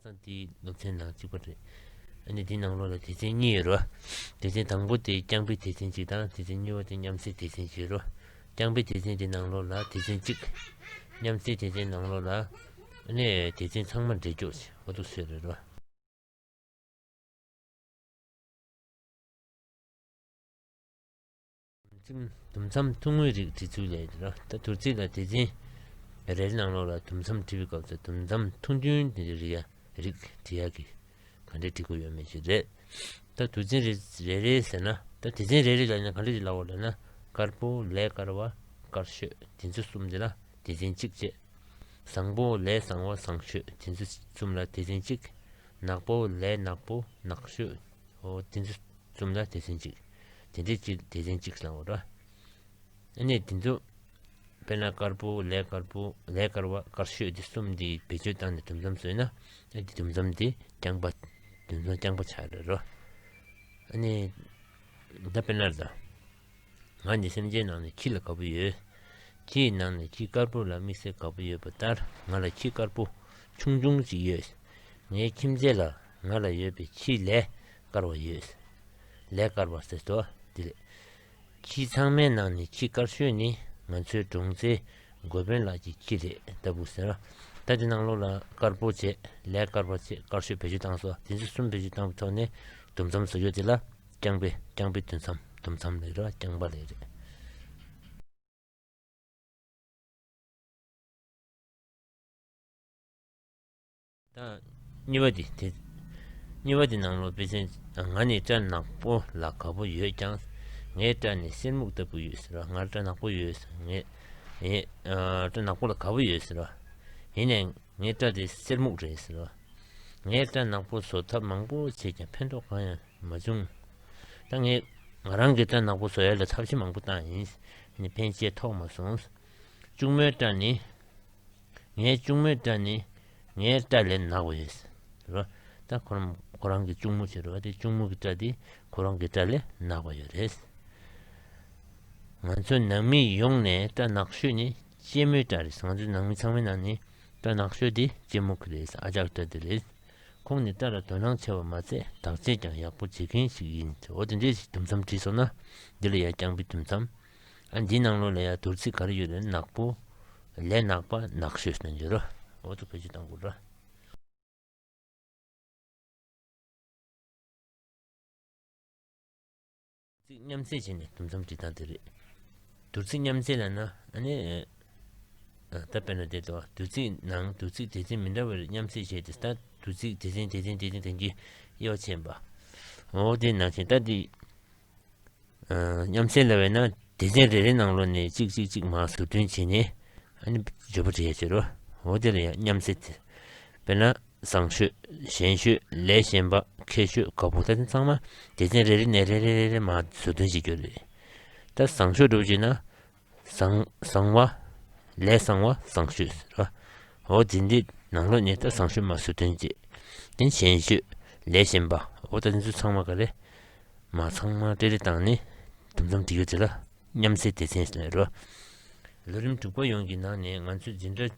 ཁ་སང་དེའི་ནུབ་མཚན་ནང་གཅིག་པ་རེད། འདི་འདི་ནང་ལོགས་ལ་དེ་ཚན་གཉིས་ཡོད་རོ། དེ་ཚན་དང་པོ་དེ་རྐྱང་པའི་དེ་ཚན་གཅིག་དང་དེ་ཚན་གཉིས་པ་དེ་མཉམ་བསྲེས་དེ་ཚན་གཅིག་རོ། རྐྱང་པའི་དེ་ཚན་དེ་ནང་ལོགས་ལ་དེ་ཚན་གཅིག། མཉམ་བསྲེས་དེ་ཚན་ནང་ལོགས་ལ། དེ་ཚན་ཚང་མ་འབྲེལ་འཇོག་བྱས་ཨོ་ཐུག་སོད་རེད་རོ། དུམ་མཚམས་ཐུང་ངུའི་རིགས་བྲིས་ཚུལ་ལས་ར་ལྟ་དུར་རྩིས་ལ་དེ་འཛིན། རེའི་ནང་ལོགས་ལ་དུམ་མཚམས་བྲི་བའི་སྐབས་སུ་དུམ་མཚམས་ཐུང་ཐུང་དེ་འདྲའི་རིགས་བྲི་ཡ་གི། ག་འདྲའི་བྲི་དགོས་ཡོད་མེད་ཞིག་རེད། ད་དུར་འཛིན་རེ་རེ་ཟེར་ན་ད་དེ་འཛིན་རེ་རེ་ལ་ནི་ག་འདྲ་ཞིག་ལ་བ་ལ་ན་དཀར་པོ་ལས་དཀར་བ་དཀར་ཤོས་དེ་ཚོ་གསུམ་དེ་ལ་དེ་འཛིན་གཅིག་བྱས། བཟང་པོ་ལས་བཟང་བ་བཟང་ཤོས་དེ་ཚོ་གསུམ་ལ་དེ་འཛིན་གཅིག། ནག་པོ་ལས་ནག་པོ་ནག་ཤོས་དེ་ཚོ་གསུམ་ལ་དེ་འཛིན་གཅིག། དེ་འདྲའི་ཅི་དེ་བཞིན་ཅིག་བསླང་བར་བྱ། ཨེ་ནས་དེ་ཚོ་དཔེར་ན་དཀར་པོ་ལས་དཀར་པོ་ལས་དཀར་བ་དཀར་ཤོས་འདི་གསུམ་འདི་བེད་སྤྱོད་བཏང་ནས་དུམ་མཚམས་བཟོས་ན་ཨེ་དེ་དུམ་མཚམས་དེ་རྐྱང་པ་དུམ་མཚམས་རྐྱང་པ་བྱ་རེ་རོ། ཨེ་ནས་ད་དཔེར་ན་ད་ང་འདི་སེམས་ཅན་ནང་ནས་ཁྱི་ལ་དགའ་པོ་ཡོད། ཁྱི་ཡི་ནང་ནས་ཁྱི་དཀར་པོ་ལ་དམིགས་བསལ་དགའ་པོ་ཡོད་པ་ལྟར་ང་ལ་ཁྱི་དཀར་པོ་ཆུང་ཆུང་ཅིག་ཡོད། ངའི་ཁྱིམ་མཚེས་ལ་ང་ལ་ཡོད་པའི་ཁྱི་ལས་དཀར་བ་ཡོད། ལས་དཀར་བ་ཟེར་ཏོ། འདི་ལས། ཁྱི་ཚང་མའི་ནང་ནས་ཁྱི་དཀར་ཤོས་ནི་ང་ཚོའི་གྲོང་ཚེའི་འགོ་དཔོན་ལགས་ཀྱི་ཁྱི་རེད་ལྟ་བུ་ཟེར། ད་དེ་ནང་ལོགས་ལ་དཀར་པོ་བྱས་ལས་དཀར་བ་བྱས་དཀར་ཤོས་བེད་སྤྱོད་བཏང་སོ་དེ་ཚོ་གསུམ་བེད་སྤྱོད་བཏང་བའི་ཐོག་ནས་དུམ་མཚམས་སུ་ཡོད་དེ་ལ་རྐྱང་པའི་རྐྱང་པའི་དུས་མཚམས་དུམ་མཚམས་ལས་རེད་རྐྱང་པ་ལས་རེད། དང། གཉིས་པ་དེ་དེ། གཉིས་པ་དེ་ནང་ལོག་པས་ཚན། ང་ནི་སྐྲ་ནག་པོ་ལ་ག་བུ་ཡོད་ཀྱང། ངའི་སྐྲ་ནི་གསེར་སྨུག་ལྟ་བུ་ཡོད་ཟེར་བ། ངར་སྐྲ་ནག་པོ་ཡོད་ཟེར་བ། ངས། སྐྲ་ནག་པོ་ལ་ག་བུ་ཡོད་ཟེར་བ། ཡིན་ནས། ངའི་སྐྲ་དེ་གསེར་སྨུག་རེད་ཟེར་བ། ངའི་སྐྲ་ནག་པོ་བཟོ་ཐབས་མང་པོ་བྱས་ཀྱང་ཕན་ཐོགས་གང་ཡང་མ་བྱུང། ད་ངས། ང་རང་གི་སྐྲ་ནག་པོ་བཟོ་ཡ་ལ་ཐབས་ཤེས་མང་པོ་བཏང་ཡིན། ཕན་ཆད་ཐོགས་མ་སོང། གཅུང་མོའི་སྐྲ་ནི། ངའི་གཅུང་མོའི་སྐྲ་ནི་ངའི་སྐྲ་ལས་ནག་བས། རེད་ད་ཁོ་རང་ཁོ་རང་གི་གཅུང་མོ་ཞིག་རེད་བ་དེ་གཅུང་མོ་གི་སྐྲ་དེ་ཁོ་རང་གི་སྐྲ་ལས་ནག་བ་ཡོད་རེད། ང་ཚོ་ནང་མི་ཡོངས་ནས་སྐྲ་ནག་ཤོས་ནི་གཅེན་མོའི་སྐྲ་རེད་ང་ཚོ་ནང་མི་ཚང་མའི་ནང་ནས་སྐྲ་ནག་ཤོས་དེ་གཅེན་མོ་གི་རེད་ཨ་ཅག་སྐྲ་དེ་རེད། ཁོང་ནི་སྐྲ་ལ་དོ་སྣང་ཆེ་བ་མ་ཚད་དག་ཆས་ཀྱང་ཡག་པོ་བྱེད་མཁན་ཞིག་ཡིན་འོ་དེ་འདྲའི་ཞིག་དུམ་མཚམས་བྲིས་སོང་ན་འདི་ལ་ཡ་རྐྱང་པའི་དུམ་མཚམས། ཨ་འདིའི་ནང་ལོགས་ལ་ཡང་དུར་ཚིགས་ག་རེ་ཡོད་དམ་ནག་པོ། ལས་ནག་པ་ནག་ཤོས་སུ་འགྱུར་རོ། འོག་ཏུ་བེད་སྤྱོད་བཏང་དགོས་ར། ཚིགས་མཉམ་བརྩེ་བྱས་ནས་དུམ་མཚམས་བྲི་སྟངས་དེ་རེད། དུར་ཚིགས་མཉམ་བརྩེ་ལ་ན་ཨ་ནི། ད་དཔེར་ན་འདི་དང་དུར་ཚིགས་ནང་དུར་ཚིགས་དེ་ཚན་མི་འདྲ་བའི་རིགས་མཉམ་བརྩེ་བྱས་ཏེ་ད་དུར་ཚིགས་དེ་ཚན་དེ་ཚན་དེ་ཚན་དེ་འདྲའི་དབྱེ་བ་ཕྱེས་པ། འོག་དེའི་ནང་ཆེན་ད་དེའི། མཉམ་བསྲེས་ལ་བས་ན་སྡེ་ཚན་རེ་རེའི་ནང་ལོ་ནས་གཅིག་གཅིག་གཅིག་མ་ཟུར་འདོན་བྱས་ནས་བརྗོད་པ་དྲིས་ཟེར་རོ་དེ་ལ་ཡང་མཉམ་བསྲེས་དེ་དཔེར་ན་བཟང་ཤོས་གཞན་ཤོས་ལས་གཞན་པ་མཁས་ཤོས་དགའ་བོ་ད་དེ་ཚང་མ་སྡེ་ཚན་རེ་རེ་ནས་རེ་རེ་རེ་རེ་མ་ཟུར་འདོན་བྱེད་རྒྱུ་རེད་ད་བཟང་ཤོས་སྒྲུབ་བྱེད་ན་བཟང་བ། ལས་བཟང་བ་བཟང་ཤོས་ཟེར་བ། འོ་འཛིན་འདི་ནང་ལོག་ཉེས་ད་བཟང་ཤོས་མ་བཟོས་དོན་ཅི། དེ་གཞན་ཤོས། ལས་གཞན་པ། འོ་ད་འདི་ཚོ་ཚང་མ་ག་རེ། མ་ཚང་མ་ཀྲེ་རེ་བཏང་ནས། དུམ་ཚོམ་འབྲི་ཡོད་ཚེ་ལ། མཉམ་བསྲེས་སྡེ་ཚན་ཟེར་བ། ལོ་རིམ་དྲུག་པ་ཡོངས་ཀྱི་ནང་ནས་ང་ཚོས་འཛིན་གྲྭ།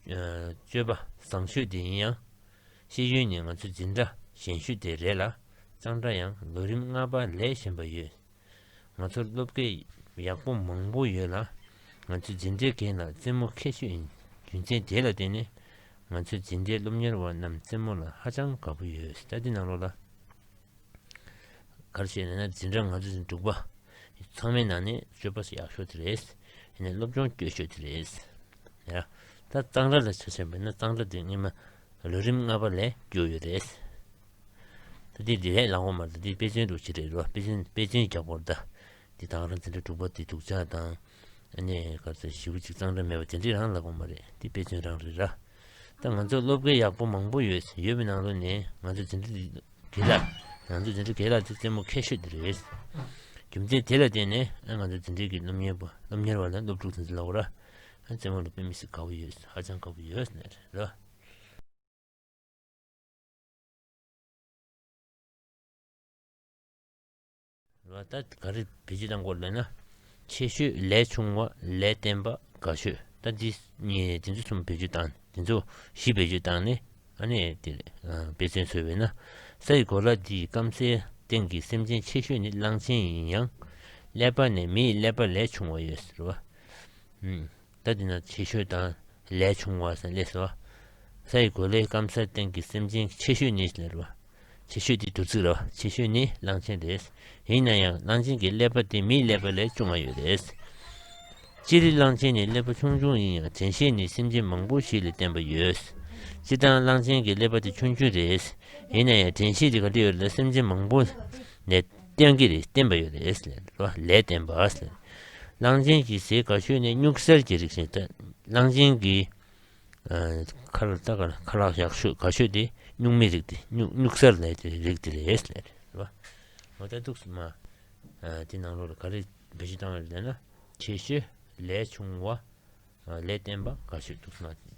སྤྱོད་པ་བཟང་ཤོས་དེ་ཡིན་ཡང། ཤེས་ཡོན་ནི་ང་ཚོའི་འཛིན་གྲྭ་གཞན་ཤོས་དེ་རེད་ལ། གཙང་སྦྲ་ཡང་ལོ་རིམ་ལྔ་པ་ལས་གཞན་པ་ཡོད། ང་ཚོར་སློབ་གྲྭའི་ཡག་པོ་མང་པོ་ཡོད་ལ། ང་ཚོའི་འཛིན་གྲྭའི་འགན་ལ་རྩེད་མོ་ཁད་ཤོས་ཡིན། རྒྱུ་མཚན་དེ་ལ་བརྟེན་ནས་ང་ཚོའི་འཛིན་གྲྭའི་སློབ་གཉེར་བ་རྣམས་རྩེད་མོ་ལ་ཧ་ཅང་དགའ་པོ་ཡོད་སྟབས་འདི་གནང་རོགས་ལ། ག་རེ་བྱས་ན་འཛིན་གྲྭ་ང་ཚོ་ཚོའི་འབྲུག་པ་ཚང་མའི་ནང་ནས་སྤྱོད་པ་ཡག་ཤོས་དེ་རེད། སློབ་སྦྱོང་སྐྱོ་ཤོས་དེ་རེད། ད་གཙང་སྦྲ་ལ་ཆ་བྱས་པས་ན་གཙང་སྦྲ་དེ་སྔོན་མ་ལོ་རིམ་ལྔ་པ་ལས་བསྒྱུར་ཡོད། ད་ལྟའི་འབྲེལ་ཡོད་ལམ་དབང་མ་དང་དེའི་དཔེ་མཚོན་དུ་བྱེད་འབྲེལ་རོགས་དཔེ་མཚོན་དཔེ་མཚོན་རྒྱག་པོར་བལྟ། འདི་དང་རང་བཙན་དྲ་དྲུག་པ་དེ་སྡུག་ཅག་དང། ཨ་ནེ་ག་ཚོད་བཞི་བོ་ཅིག་གཙང་སྦྲ་མེད་པ་དེ་འདྲས་རང་ལབ་པོ་མ་རེད་འདི་དཔེ་མཚོན་རང་རེད་ར། ད་ང་ཚོར་སློབ་དགེ་ཡག་པོ་མང་པོ་ཡོད་ཡོད་པའི་ནང་དོན་ནི་ང་ཚོ་འཛིན་གྲྭ་དེ་དགེ་ལ། ང་ཚོ་འཛིན་གྲྭ་དགེ་ལགས་དེ་རྩེད་མོ་ཁད་ཤོས་དེ་རེད། རྒྱུ་མཚན་དེ་ལ་བརྟེན་ནས་ཨ་ང་ཚོ་འཛིན་གྲྭའི་དགེ་སློབ་གཉེར་བ་སློབ་གཉེར་བ་ལ་སློབ་ཕྲུག་ཚང་ཚིག་ལ་འོ་ར། བཙན་བྱོལ་བོད་མི་ཞིག་དགའ་བོ་ཡོད་ཧ་ཅང་དགའ་བོ་ཡོད་ཟེར་ནས་རེད་ལ། ད་ག་རེ་བེད་སྤྱོད་བཏང་སྐོར་ལས་ན། ཆེ་ཤོས་ལས་ཆུང་བ་ལས་བརྟན་པ་དགའ་ཤོས་ད་འདི་ཚོ་གསུམ་བེད་སྤྱོད་བཏང་ནས་འདི་ཚོ་བཞི་བེད་སྤྱོད་བཏང་ནས་ཨ་ནེ་དེ་རེད་དཔེ་མཚོན་བཟོས་བས་ན་ས་ཡི་གོ་ལ་འདིའི་སྐམ་སའི་སྟེང་གི་སེམས་ཅན་ཆེ་ཤོས་ནི་གླང་ཆེན་ཡིན་ཡང་ཀླད་པ་ནས་མིའི་ཀླད་པ་ལས་ཆུང་བ་ཡོད་ཟེར་བ། ལྟ་དེ་ན་ཆེ་ཤོས་དང་ལས་ཆུང་བ་སན་ལེས་བ། ས་ཡི་གོ་ལའི་སྐམ་སར་སྟེང་གི་སེམས་ཅན་ཆེ་ཤོས་ནི་ལེར་བ། ཆེ་ཤོས་དེ་དུར་ཚིགས་ལ་བ་ཆེ་ཤོས་ནི་གླང་ཆེན་རེད། ཡིན་ན་ཡང་གླང་ཆེན་གྱི་ཀླད་པ་དེ་མིའི་ཀླད་པ་ལས་ཅུང་མ་ཡོད་རེད། སྤྱིར་གླང་ཆེན་ནི་ཀླད་པ་ཆུང་ཆུང་ཡིན་ཡང་དྲན་ཤེས་ནི་སེམས་ཅན་མང་པོ་ཞིག་ལས་བརྟན་པ་ཡོད། སྤྱིར་བཏང་གླང་ཆེན་གྱི་ཀླད་པ་དེ་ཆུང་ཆུང་རེད། ཡིན་ན་ཡང་དྲན་ཤེས་དེ་ག་འདྲ་ཡོད་རེད་ལ་སེམས་ཅན་མང་པོ་ནས། བསྟན་གྱི་རིགས་བསྟན་པ་ཡོད་ལ་ཨེས་ལས་ལོ་ལས་བསྟན་པ་ཨས་ལས། གླང་ཆེན་གྱི་ཟས་ག་ཤོད་ནས་སྨྱུག་གསེར་གྱི་རིགས་བྱས་ཏེ་གླང་ཆེན་གྱི་ཁ་ལག་རྟ་ཁ་ལག་ཁ་ལག་ཞག་ཤོད་ག་ཤོད་དེ་སྨྱུག་མའི་རིགས་དེ་སྨྱུག་གསེར་ལས་དེ་རིགས་དེ་རེད་ཨེས་ལས། ངོ་ལྟ་ཐུགས་སུ་མ། དེ་ནང་ལོ་ལ་ག་རེ་འབའ་ཞིག་བཏང་བ་རེད་ལྟ་ན། ཆེ་ཤོས་ལས་ཆུང་བ་ལས་བསྟན་པ་ག་ཤོད་ཐུགས་སུ་མ་ཆུད།